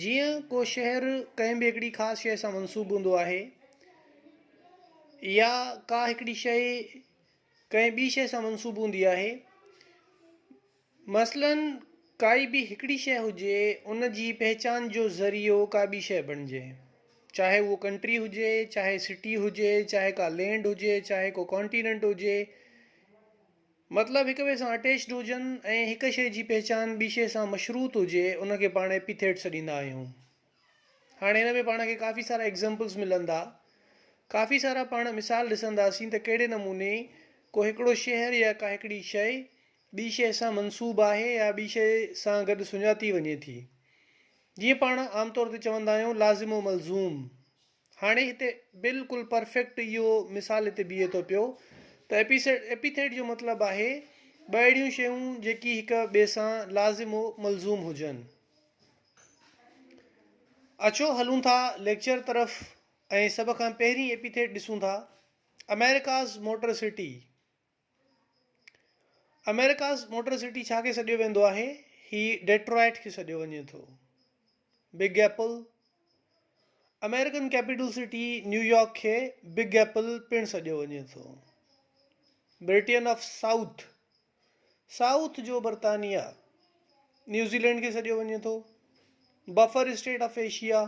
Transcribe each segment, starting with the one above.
جيئن ڪو شهر ڪنهن به هڪڙي خاص شيء سان منسوب هوندو آهي يا ڪا هڪڙي شيء ڪنهن ٻي شيء سان منسوب هوندي آهي مثلاً ڪائي به هڪڙي شيء هجي ان جي پهچان جو ذريعو ڪا ٻي شيء بڻجي چاهي هو ڪنٽري هجي چاهي سٽي هجي چاهي ڪا لينڊ هجي چاهي ڪو ڪانٽيننٽ هجي مطلب هڪ ٻئي سان اٽيچڊ هجن ۽ هڪ شيء جي پهچان ٻي شيء سان مشروط هجي ان کي پاڻ ايپيٿيٽ سڏيندا آهيون. هاڻي هن ۾ پاڻ کي ڪافي سارا ايگزامپلز ملندا. ڪافي سارا پاڻ مثال ڏسنداسين ته ڪهڙي نموني ڪو هڪڙو شهر يا ڪا هڪڙي شيء ٻي شيء سان منسوب آهي يا ٻي شيء سان گڏ سڃاتي وڃي ٿي. جيئن پاڻ عام طور تي چوندا آهيون لازم و ملزوم. هاڻي هتي بلڪل پرفيڪٽ اهو مثال هتي بيهي ٿو پيو ته ايپيسيڊ ايپيٿيٽ جو مطلب آهي ٻه اهڙيون شيون جيڪي هڪ ٻئي سان لازم و ملزوم هجن. اچو هلون ٿا ليڪچر طرف ۽ سڀ کان پهرين ايپيٿيٽ ڏسون ٿا، America's Motor City. America's motor city ڇا کي سڏيو ويندو آهي؟ هي ڊيٽرائيٽ کي سڏيو وڃي ٿو. Big apple, American capital city New York کي بگ ايپل پڻ سڏيو وڃي ٿو. برٽين آف سائوٿ، سائوٿ جو برطانيا، نيوزيلينڊ کي سڏيو وڃي ٿو. Buffer state of Asia,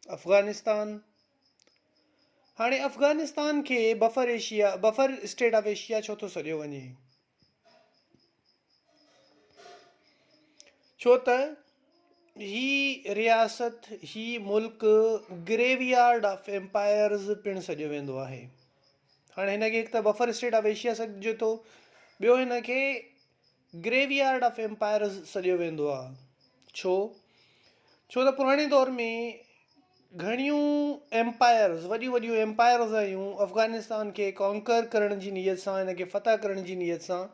Afghanistan. هاڻي افغانستان کي buffer Asia, Buffer State of Asia، ڇو ٿو سڏيو وڃي؟ ڇو ته هي رياست، هي ملڪ گريو يارڊ آف ايمپائرز پڻ سڏيو ويندو آهي. هاڻي هن کي هڪ ته بفر اسٽيٽ آف ايشيا سڏجي ٿو، ٻيو هن کي گريو يارڊ آف ايمپائرز سڏيو ويندو آهي. ڇو؟ ڇو ته پراڻي دور ۾ گهڻيون ايمپائرز، وڏيون وڏيون ايمپائرز آيون افغانستان کي ڪانڪر ڪرڻ جي نيت سان، هن کي فتح ڪرڻ جي نيت سان،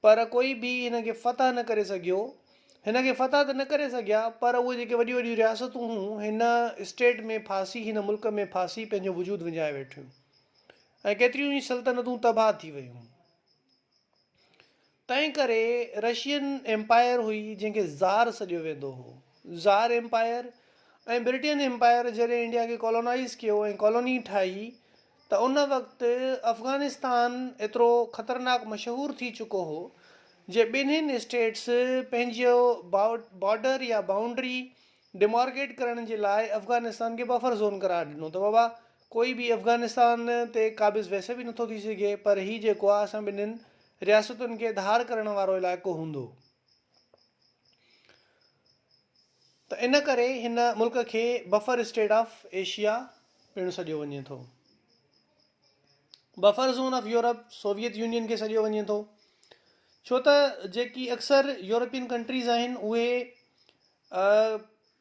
پر ڪوئي به هن کي فتح نه ڪري سگهيو. هن کي فتح ته نه ڪري سگهيا، پر اهي جيڪي وڏيون وڏيون رياستون هيون، هن اسٽيٽ ۾ ڦاسي، هن ملڪ ۾ ڦاسي پنهنجو وجود وڃائي ويٺيون ۽ ڪيتريون ئي سلطنتون تباهه ٿي ويون. تنهن ڪري رشين ايمپائر هئي جنهن کي زار سڏيو ويندو هو. زار ايمپائر ۽ برٽين ايمپائر جڏهن انڊيا کي ڪالونائيز ڪيو ۽ ڪالوني ٺاهي ته ان وقت افغانستان ايترو خطرناڪ مشهور ٿي چڪو هو جي ٻنهين اسٽيٽس پنهنجو بارڊر يا بائونڊري ڊيمارڪيٽ ڪرڻ جي لاء افغانستان کي بفر زون قرار ڏنو ته بابا ڪوئي به افغانستان تي قابض ويسي به نٿو ٿي سگهي پر هي جيڪو آهي اسان ٻنهين رياستن کي ڌار ڪرڻ وارو علائقو هوندو ته ان ڪري هن ملڪ کي بفر اسٽيٽ آف ايشيا پڻ سڏيو وڃي ٿو. Buffer zone of Europe Soviet Union کي سڏيو وڃي ٿو ڇو ته جيڪي اڪثر يورپين ڪنٽريز آهن اهي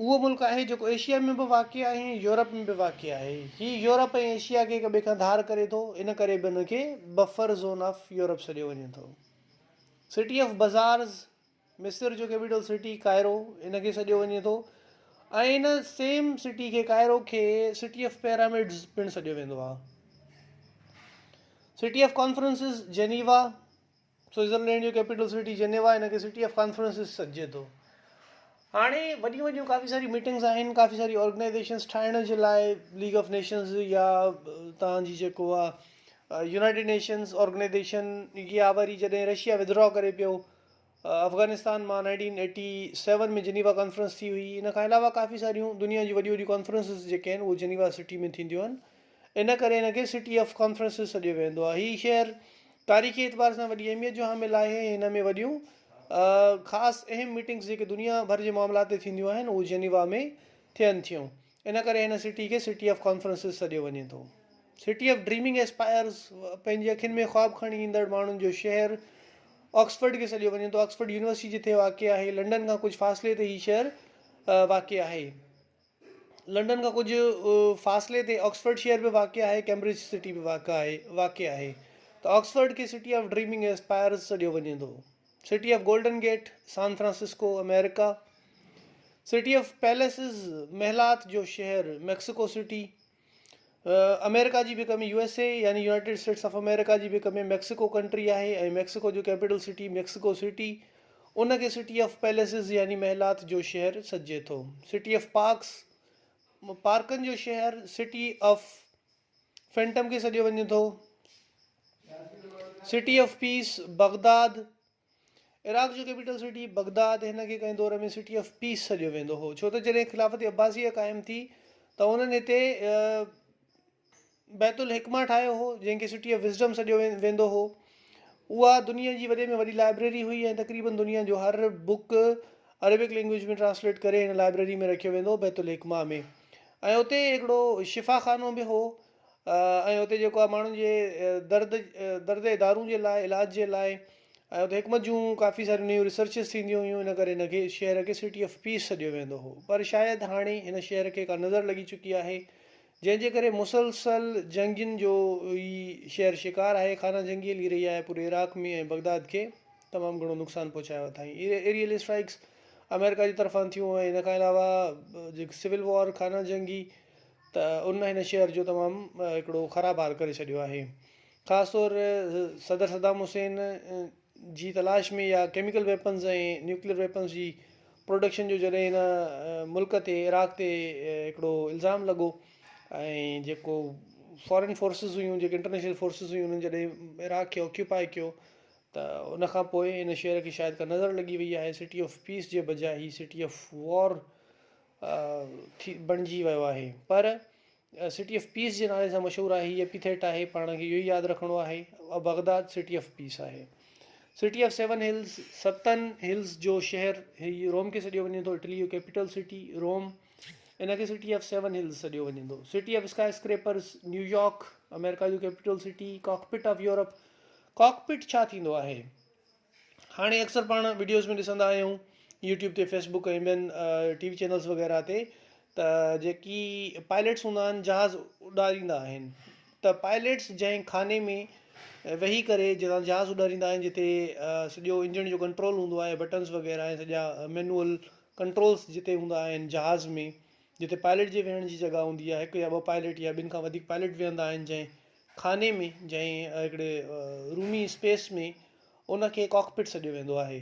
اهو ملڪ آهي جيڪو ايشيا ۾ به واقع آهي ۽ يورپ ۾ به واقع آهي. هي يورپ ۽ ايشيا کي هڪ ٻئي کان ڌار ڪري ٿو، ان ڪري به هن کي بفر زون آف يورپ سڏيو وڃي ٿو. سٽي آف بزارز، مصر جو ڪيپيٽل سٽي ڪائرو، ان کي سڏيو وڃي ٿو ۽ ان سيم سٽي کي ڪائرو کي سٽي آف پيرامڊز پڻ سڏيو ويندو آهي. City of conferences, Geneva. Switzerland جو ڪيپيٽل سٽي جنيوا هن کي سٽي آف ڪانفرنسز سڏجي ٿو هاڻي وڏيون وڏيون ڪافي ساري ميٽنگز آهن ڪافي ساري آرگنائزيشنز ٺاهڻ جي لاء ليگ آف نيشنز يا تان جي جيڪو آهي يونائيٽيڊ نيشنز آرگنائزيشن يا وري جڏهن رشيا ودرا ڪري پيو افغانستان مان nineteen eighty seven ۾ Geneva conference ٿي هئي ان کان علاوه ڪافي ساريون دنيا جون وڏيون وڏيون ڪانفرنسز جيڪي آهن اهو جنيوا سٽي ۾ ٿينديون آهن ان ڪري هن کي سٽي آف ڪانفرنسز سڏيو ويندو آهي. هي شهر تاريخي اعتبار سان وڏي اهميت جو حامل آهي ۽ هن ۾ وڏيون خاص اهم ميٽنگز جيڪي دنيا ڀر جي معاملات تي ٿينديون آهن اهو جنيوا ۾ ٿين ٿيون ان ڪري هن سٽي کي سٽي آف ڪانفرنسز سڏيو وڃي ٿو. سٽي آف ڊريمنگ ايسپائرز پنهنجي اکين ۾ خواب کڻي ايندڙ ماڻهن جو شهر آڪسفرڊ کي سڏيو وڃي ٿو آڪسفرڊ يونيورسٽي جتي واقع آهي لنڊن کان ڪجهه فاصلي تي هي شهر واقع آهي. لنڊن کان ڪجهه فاصلي تي آڪسفورڊ شهر به واقع آهي، ڪيمبرج سٽي به واقع آهي واقع آهي ته آڪسفورڊ کي سٽي آف ڊريمنگ ۽ اسپائرز سڏيو وڃي ٿو. City of Golden Gate, San Francisco, آمريڪا. سٽي آف پيليسز، محلات جو شهر، ميڪسيڪو سٽي. آمريڪا جي ڀيڪ ۾ USA يعني يونائيٽيڊ اسٽيٽس آف آمريڪا جي ڀيڪ ۾ ميڪسيڪو ڪنٽري آهي ۽ ميڪسيڪو جو ڪيپيٽل سٽي ميڪسيڪو سٽي ان کي سٽي آف پيليسز يعني محلات جو شهر سڏجي ٿو سٽي آف پارڪس پارڪن جو شهر سٽي آف فينٽم کي سڏيو وڃي ٿو city of peace Baghdad Iraq جو ڪيپيٽل سٽي بغداد هن کي ڪنهن دور ۾ سٽي آف پيس سڏيو ويندو هو ڇو ته جڏهن خلافت عباسيه قائم ٿي ته انهن هتي بيت الحڪمه ٺاهيو هو جنهن کي سٽي آف وزڊم سڏيو ويندو هو اها دنيا جي وڏي ۾ وڏي لائبريري هئي ۽ تقريبن دنيا جو هر بوڪ عربڪ لينگويج ۾ ٽرانسليٽ ڪري هن لائبريري ۾ رکيو ويندو هو بيت الحڪمه ۾ ۽ اتي هڪڙو شفا خانو به هو ۽ اتي جيڪو آهي ماڻهن جي درد درد جي دارون جي لاء علاج جي لاء ۽ اتي حڪمت جون ڪافي ساريون نيون ريسرچز ٿينديون هيون ان ڪري هن کي شهر کي سٽي آف پيس سڏيو ويندو هو پر شايد هاڻي هن شهر کي ڪا نظر لڳي چڪي آهي جنهن جي ڪري مسلسل جنگين جو هي شهر شڪار آهي خانه جنگي هلي رهي آهي پوري عراق ۾ ۽ بغداد کي تمام گهڻو نقصان پهچايو اٿائين ايريل اسٽرائڪس آمريڪا جي طرفان ٿيون ۽ ان کان علاوه جيڪي سول وار خانه جنگي ته ان هن شهر جو تمام هڪڙو خراب حال ڪري ڇڏيو آهي خاص طور صدر صدام حسين جي تلاش ۾ يا ڪيميڪل ويپنز ۽ نيوڪليئر ويپنز جي پروڊڪشن جو جڏهن هن ملڪ تي عراق تي هڪڙو الزام لڳو ۽ جيڪو فارين فورسز هيون جيڪي انٽرنيشنل فورسز هيون انهن جڏهن عراق کي آڪيوپائي ڪيو ته ان کان پوء ان شهر کي شايد ڪا نظر لڳي وئي آهي سٽي آف پيس جي بجاء هي سٽي آف وار ٿي بڻجي ويو آهي پر سٽي آف پيس جي نالي سان مشهور آهي هي ايپيٿيٽ آهي پاڻ کي اهو ئي ياد رکڻو آهي بغداد سٽي آف پيس آهي سٽي آف سيون هلز ستن هلز جو شهر هي روم کي سڏيو وڃي ٿو اٽلي جو ڪيپيٽل سٽي روم ان کي سٽي آف سيون هلز سڏيو وڃي ٿو city of skyscrapers New York امريڪا جو capital city cockpit of Europe cockpit ڇا ٿيندو آهي هاڻي اڪثر پاڻ وڊيوز ۾ ڏسندا آهيون يوٽيوب تي فيس بڪ ۽ ٻين ٽي وي چينلز وغيره تي ته جيڪي پائليٽس هوندا آهن جهاز اڏاريندا آهن ته پائليٽس جنهن خاني ۾ ويهي ڪري جتان جهاز اڏاريندا آهن جتي سڄو انجڻ جو ڪنٽرول هوندو آهي بٽنز وغيره ۽ سڄا مينوئل ڪنٽرولز جتي هوندا آهن جهاز ۾ جتي پائليٽ جي ويهڻ جي جڳهه هوندي آهي هڪ يا ٻه پائليٽ يا ٻن کان وڌيڪ پائليٽ ويهندا آهن جنهن خاني ۾ جنهن هڪڙي رومي اسپيس ۾ ان کي ڪاڪ پٽ سڏيو ويندو آهي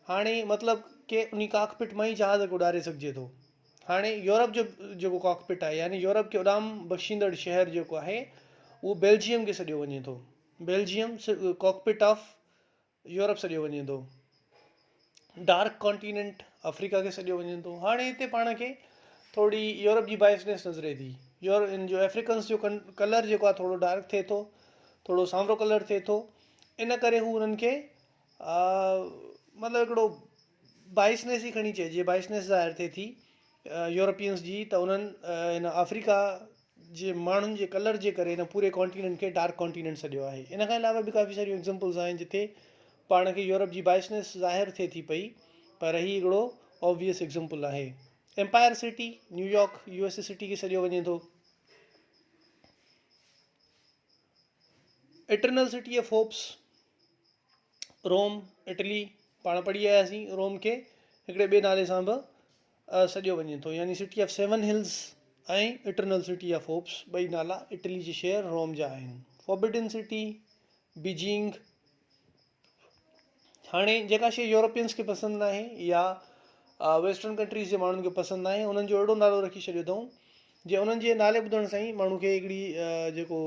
هاڻي مطلب ڪي انهي ڪاڪ پٽ مان ئي جهاز کي اڏاري سگهجي ٿو هاڻي يورپ جو جيڪو ڪاڪ پٽ آهي يعني يورپ کي اڏام بخشيندڙ شهر جيڪو آهي اهو بيلجيم کي سڏيو وڃي ٿو Belgium cockpit of Europe سڏيو وڃي ٿو. ڊارڪ ڪانٽيننٽ آفريڪا کي سڏيو وڃي ٿو. هاڻي هتي پاڻ کي ٿورڙي يورپ جي بائسنيس نظري ٿي. يور ان جو افريڪنس جو ڪن ڪلر جيڪو آهي ٿورڙو ڊارڪ ٿئي ٿو. ٿورڙو سانورو ڪلر ٿئي ٿو. ان ڪري هو انهن کي مطلب هڪڙو بائسنيس ئي کڻي چئجي بائسنيس ظاهر ٿئي ٿي يورپينس جي ته انهن هن آفريڪا جي ماڻهن جي ڪلر جي ڪري هن پوري ڪانٽيننٽ کي ڊارڪ ڪانٽيننٽ سڏيو آهي. ان کان علاوه به ڪافي ساريون ايگزمپلز آهن جتي پاڻ کي يورپ جي بائسنيس ظاهر ٿئي ٿي پئي پر هي هڪڙو آبويس ايگزمپل آهي. Empire city, New York, U S A city کي سڏيو وڃي ٿو. Eternal city of hopes, Rome, Italy, پاڻ پڙهي آياسين روم کي هڪڙي ٻئي نالي سان به سڏيو وڃي ٿو يعني city of seven hills ۽ eternal city of hopes ٻئي نالا اٽلي جي شهر روم جا آهن فوربڊن سٽي بيجنگ هاڻي جيڪا شيء يورپينس کي پسند ناهي يا ويسٽرن ڪنٽريز جي ماڻهن کي پسند ناهي انهن جو اهڙو نالو رکي ڇڏيو اٿئون جي انهن جي نالي ٻڌڻ سان ئي ماڻهو کي هڪڙي جيڪو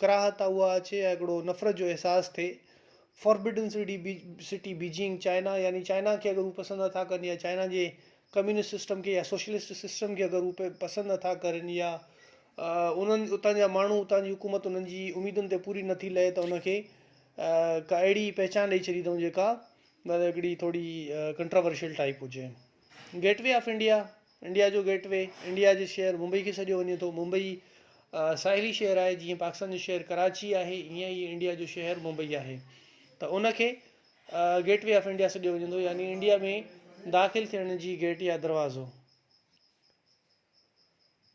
ڪراهت آ اها اچي يا هڪڙو نفرت جو احساس ٿئي Forbidden City City Beijing China يعني چائنا کي اگر هو پسند نه ٿا ڪن يا چائنا جي ڪميونسٽ سسٽم کي يا سوشلسٽ سسٽم کي اگر هو پسند نه ٿا ڪرن يا انهن اتان جا ماڻهو اتان جي حڪومت انهن جي اميدن تي پوري نه ٿي لهي ته ان کي ڪا اهڙي پهچان ڏئي ڇڏي اٿئون جيڪا مطلب هڪڙي ٿوري ڪنٽراورشل ٽائيپ هجي gateway of India India جو گيٽ وي، انڊيا جي شهر ممبئي کي سڏيو وڃي ٿو. ممبئي ساحلي شهر آهي، جيئن پاڪستان جو شهر ڪراچي آهي، ايئن ئي انڊيا جو شهر ممبئي آهي ته ان کي گيٽ وي آف انڊيا سڏيو وڃي ٿو يعني انڊيا ۾ داخل ٿيڻ جي گيٽ يا دروازو.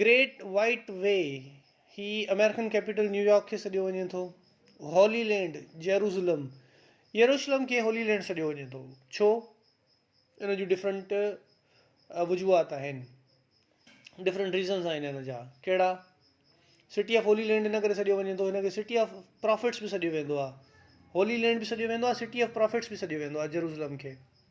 گريٽ وائيٽ وي، هي آمريڪن ڪيپيٽل نيويارڪ کي سڏيو وڃي ٿو. هولي لينڊ، جيروسلم، يروشلم کي هولي لينڊ سڏيو وڃي ٿو. ڇو؟ ان جون ڊفرنٽ وجوهات آهن. ڊفرنٽ ريزنس آهن ان جا. ڪهڙا؟ سٽي آف هولي لينڊ ان ڪري سڏيو وڃي ٿو ان کي سٽي آف پرافٽس به سڏيو ويندو آهي. هولي لينڊ به سڏيو ويندو آهي سٽي آف پرافٽس به سڏيو ويندو آهي جيروسلم کي.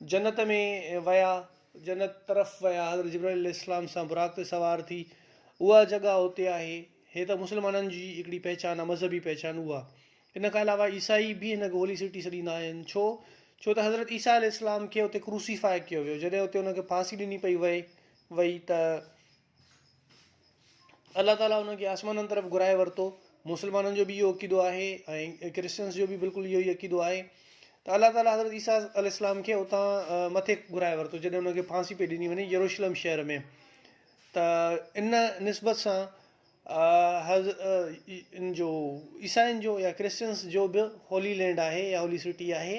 جنت ۾ ويا، جنت طرف ويا، حضرت جبرائيل عليه السلام سان براق تي سوار ٿي، اها جڳهه اتي آهي، هي ته مسلمانن جي هڪڙي پهچان آهي، مذهبي پهچان اها. ان کان علاوه عيسائي به هن کي هولي سٽي سڏيندا آهن، ڇو؟ ڇو ته حضرت عيسيٰ عليه السلام کي اتي ڪروسيفاء ڪيو ويو، جڏهن اتي ان کي ڦاسي ڏني پئي وئي وئي ته. الله تعاليٰ انهن کي آسمانن طرف گهرائي ورتو. مسلمانن جو به اهو عقيدو آهي ۽ ڪرسچنس جو به بلڪل اهو ئي عقيدو آهي ته الله تعاليٰ حضرت عيسيٰ عليه السلام کي اتان مٿي گهرائي ورتو جڏهن ان کي ڦاسي پئي ڏني وڃي يروشلم شهر ۾ ته ان نسبت سان ان جو عيسائين جو يا ڪرسچنس جو به هولي لينڊ آهي يا هولي سٽي آهي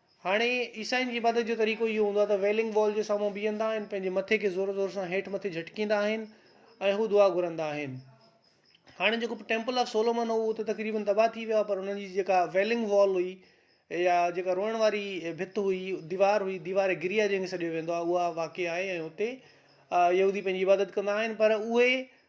هاڻي عيسائين جي عبادت جو طريقو اهو هوندو آهي ته ويلنگ وال جي سامهون بيهندا آهن پنهنجي مٿي کي زور زور سان هيٺ مٿي جهٽڪيندا آهن ۽ هو دعا گهرندا آهن هاڻي جيڪو ٽيمپل آف سولومن هو اهو ته تقريبن تباهه ٿي ويو آهي پر انهن جي جيڪا ويلنگ وال هئي يا جيڪا روئڻ واري ڀت هئي ديوار هئي ديوار گريا جنهن کي سڏيو ويندو آهي اها واقع آهي ۽ اتي يهودي پنهنجي عبادت ڪندا آهن پر اهي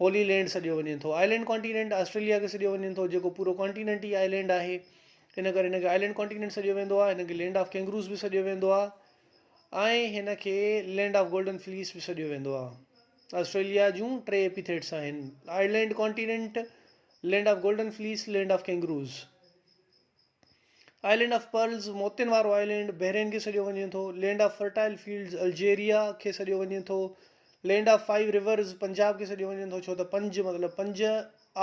هولي لينڊ سڏيو وڃي ٿو. آئلينڊ ڪانٽينينٽ آسٽريليا کي سڏيو وڃي ٿو جيڪو پورو ڪانٽينينٽ ئي آئلينڊ آهي ان ڪري هن کي آئلينڊ ڪانٽينينٽ سڏيو ويندو آهي هن کي لينڊ آف ڪينگروز به سڏيو ويندو آهي ۽ هن کي لينڊ آف گولڊن فليس به سڏيو ويندو آهي آسٽريليا جون ٽي ايپيٿيٽس آهن island continent land of golden fleece land of kangaroos island of pearls, موتين وارو آئلينڊ، بحرين کي سڏيو وڃي ٿو. Land of fertile fields, Algeria کي سڏيو وڃي ٿو. Land of five rivers, Punjab کي سڏيو وڃي ٿو ڇو ته پنج مطلب پنج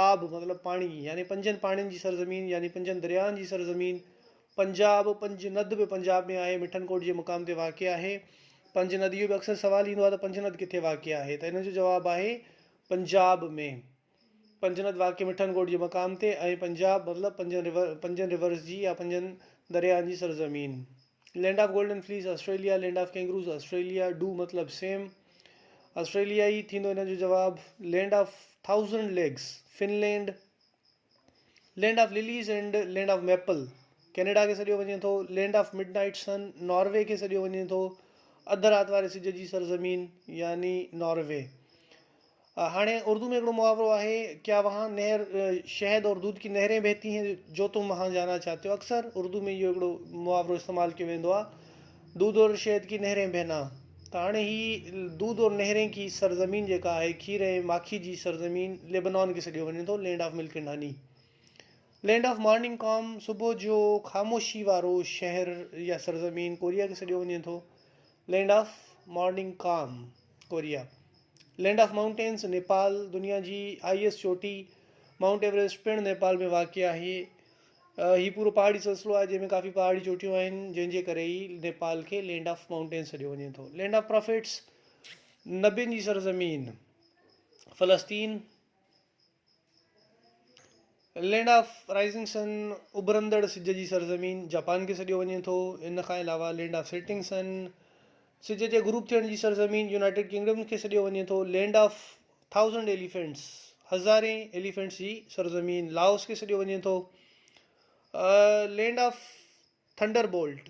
آب مطلب پاڻي يعني پنجن پاڻين جي سرزمين يعني پنجن درياهن جي سرزمين پنجاب پنج ند به پنجاب ۾ آهي مٺن ڪوٽ جي مقام تي واقع آهي پنج ند اهو به اڪثر سوال ايندو آهي ته پنج ند ڪٿي واقع آهي ته ان جو جواب آهي پنجاب ۾ پنجنت واقعي مٺن ڳوٺ جي مقام تي ۽ پنجاب مطلب پنجن رورس جي يا پنجن درياهن جي سرزمين. Land of golden fleece Australia land of kangaroos Australia ڊو مطلب سيم آسٽريليا ئي ٿيندو ان جو جواب land of thousand lakes Finland land of lilies and land of maple Canada کي سڏيو وڃي ٿو land of midnight sun Norway کي سڏيو وڃي ٿو اڌ رات واري سج جي سرزمين يعني ناروي هاڻي اردو ۾ هڪڙو محاورو آهي، ڪيا وهان نهر شهد اور دودھ ڪي نهرين بهتي هين جو تم وهان جانا چاهتي هو اڪثر اردو ۾ اهو هڪڙو محاورو استعمال ڪيو ويندو آهي دودھ اور شهد ڪي نهرين بهنا ته هاڻي هي دودھ اور نهرين ڪي سرزمين جيڪا آهي کير ۽ ماکي جي سرزمين ليبنان کي سڏيو وڃي ٿو land of milk and honey land of morning calm صبح جو خاموشي وارو شهر يا سرزمين ڪوريا کي سڏيو وڃي ٿو land of morning calm Korea, land of mountains, Nepal, دنيا جي آء ايس چوٽي مائونٽ ايوريسٽ پڻ نيپال ۾ واقع آهي. هي پورو پهاڙي سلسلو آهي جنهن ۾ ڪافي پهاڙي چوٽيون آهن جنهن جي ڪري ئي نيپال کي لينڊ آف مائونٽينز سڏيو وڃي ٿو. لينڊ آف پرافيٽس، نبين جي سرزمين، فلسطين، لينڊ آف رائيزنگ سن، اڀرندڙ سج جي سرزمين، جاپان کي سڏيو وڃي ٿو. ان کان علاوه لينڊ آف سيٽنگ سن، سج جي غروب ٿيڻ جي سرزمين، يونائيٽيڊ ڪنگڊم کي سڏيو وڃي ٿو. لينڊ آف ٿائوزنڊ ايليفينٽس، هزارين ايليفينٽس جي سرزمين، لاوس کي سڏيو وڃي ٿو. لينڊ آف ٿنڊر بولٽ،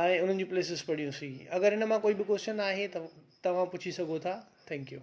۽ انهن جون پليسز پڙهيون سين اگر ان مان ڪوئي به ڪوسچن آهي ته توهان پڇي سگهو ٿا ٿينڪ يو.